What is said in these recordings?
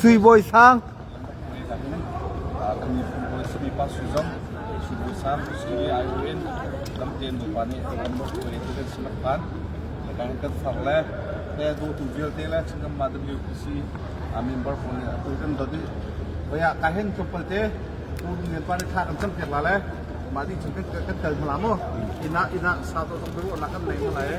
Suibawi sang. kan far le te do tu vialte le chingam ma WPC a member ko ne tu kan do di baya ka hen to palte tu ne pa ne kha kan cham piak la le ma di chun kan kan tel mala mo ina ina sa to tong bu na kan nei mala e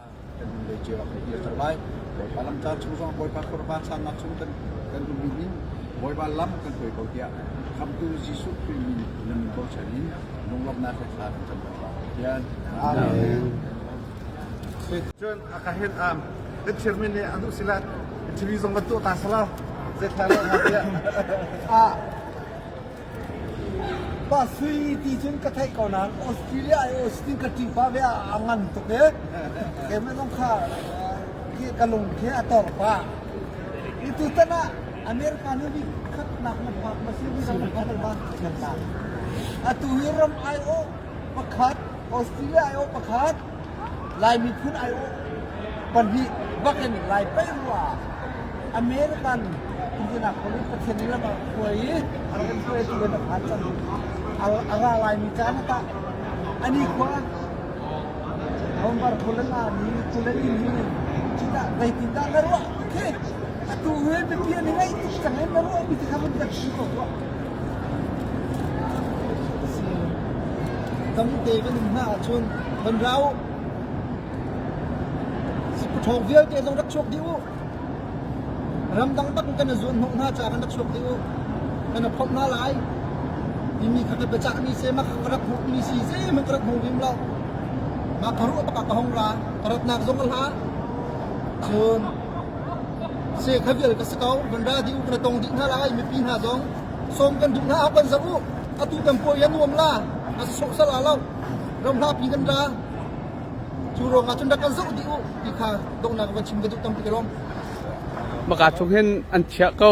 kan hnulei cio ah kan dirter lai. Bawipa lamtlar chung zong Bawipa khuarva sannak chung kan kan um in Bawipa lam kan hruai ko tiah Khamtu Jesuh Khrih min nan bochan in lunglawmhnak he thla kan cam ko lai. Tian. Amen. Cun a ka hin am kan chairman nih an usilat TV zong kan tuah ta sala zeithal lo tiah a Pa Sui ti cun ka theih ko nain Australia i Austin ka ṭipa ve ah a ngan tuk i keimah kha ka lung khi a tor pah. Tutan ah America nih vi khatnak na phak ma si vi na phak ma atu hi ram aiawh pakhat Australia aiawh pakhat Lai miphun aiawh pahnih bak in Lai paih ruah ah American Indianapolis Pathian nih lam a hruai i a rak in hruaitu in a phan cang. A ra laimi caan ah tah a nikhua Bombar Kulen Army Kulen in hi cudah zeitindah na ruah ti khi atu hi biapi an i ngaih tuk cang i na ruahmi ti kha vun biak ti ko tuah. Tamte kan um hna ahcun kan ra u. Sikpaṭhawng vialte zong rak chuak dih u. Ramdang bak in kan i zuanhnawh hna ca kan rak chuak dih u. Kan i phomh hna lai. Timi kha ka biacahmi sehmah ka rak hmuhmi si zeihmanh ka rak hmu vim lo. Mah ka ruah bak ah ka hong ra. Ka ratnak zong a hla. Cun Se kha vial ka si ko. Van ra dih u, kan tong dih hna lai. Mipi hna zong sawm kan duh hna. A kan zoh u. Atu kan puai a nuam la. A sawh sal a lo. Ram hla pi kan ra. Cu ruang ah cun rak kan zoh dih u ti kha donghnak van chim ka duh tampi ka lawm. Maka chung hin an chiah ko.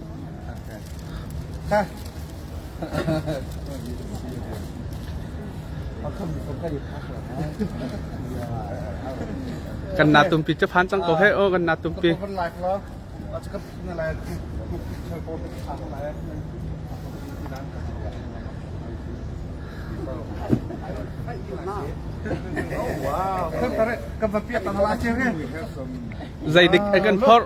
kan na tumpi che phan cang ko he o kan na tumpi zeidik a kan phorh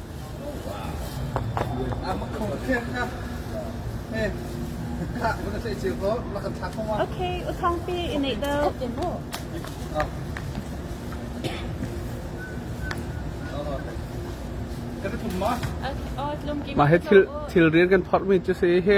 Okay, uthangpi i neih deuh. Mah hi thil thil rian kan phorh mi cu si hi.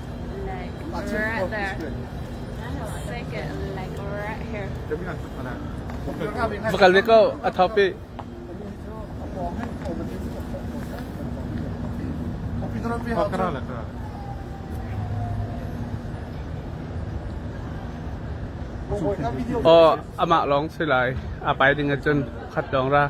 like right there. Take it like right here. Va kal ve ko a thop i Kara la kara Oh, ama long si lai. Apa ding cun khat dong ra.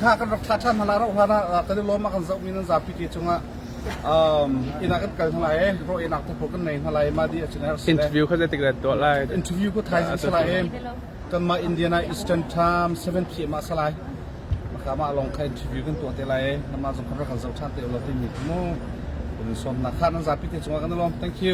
kha kan rak thla ṭhan hna lai rauh hlan ah kan i lawm ah kan zohmi nan zapi ke cungah inn ah kan kal hna lai ro einak te pawh kan nei hna lai mah di a chinai interview kha zeitik ran tuah lai interview ku thai si lai kan mah Indiana Eastern Time 7 pm ah salai maka ma long kha interview kan tuah te lai nama zong kan rak kan zo ṭhan te lo te mi mu kan sawm na kha nan zapi te cungah kan lawm thank you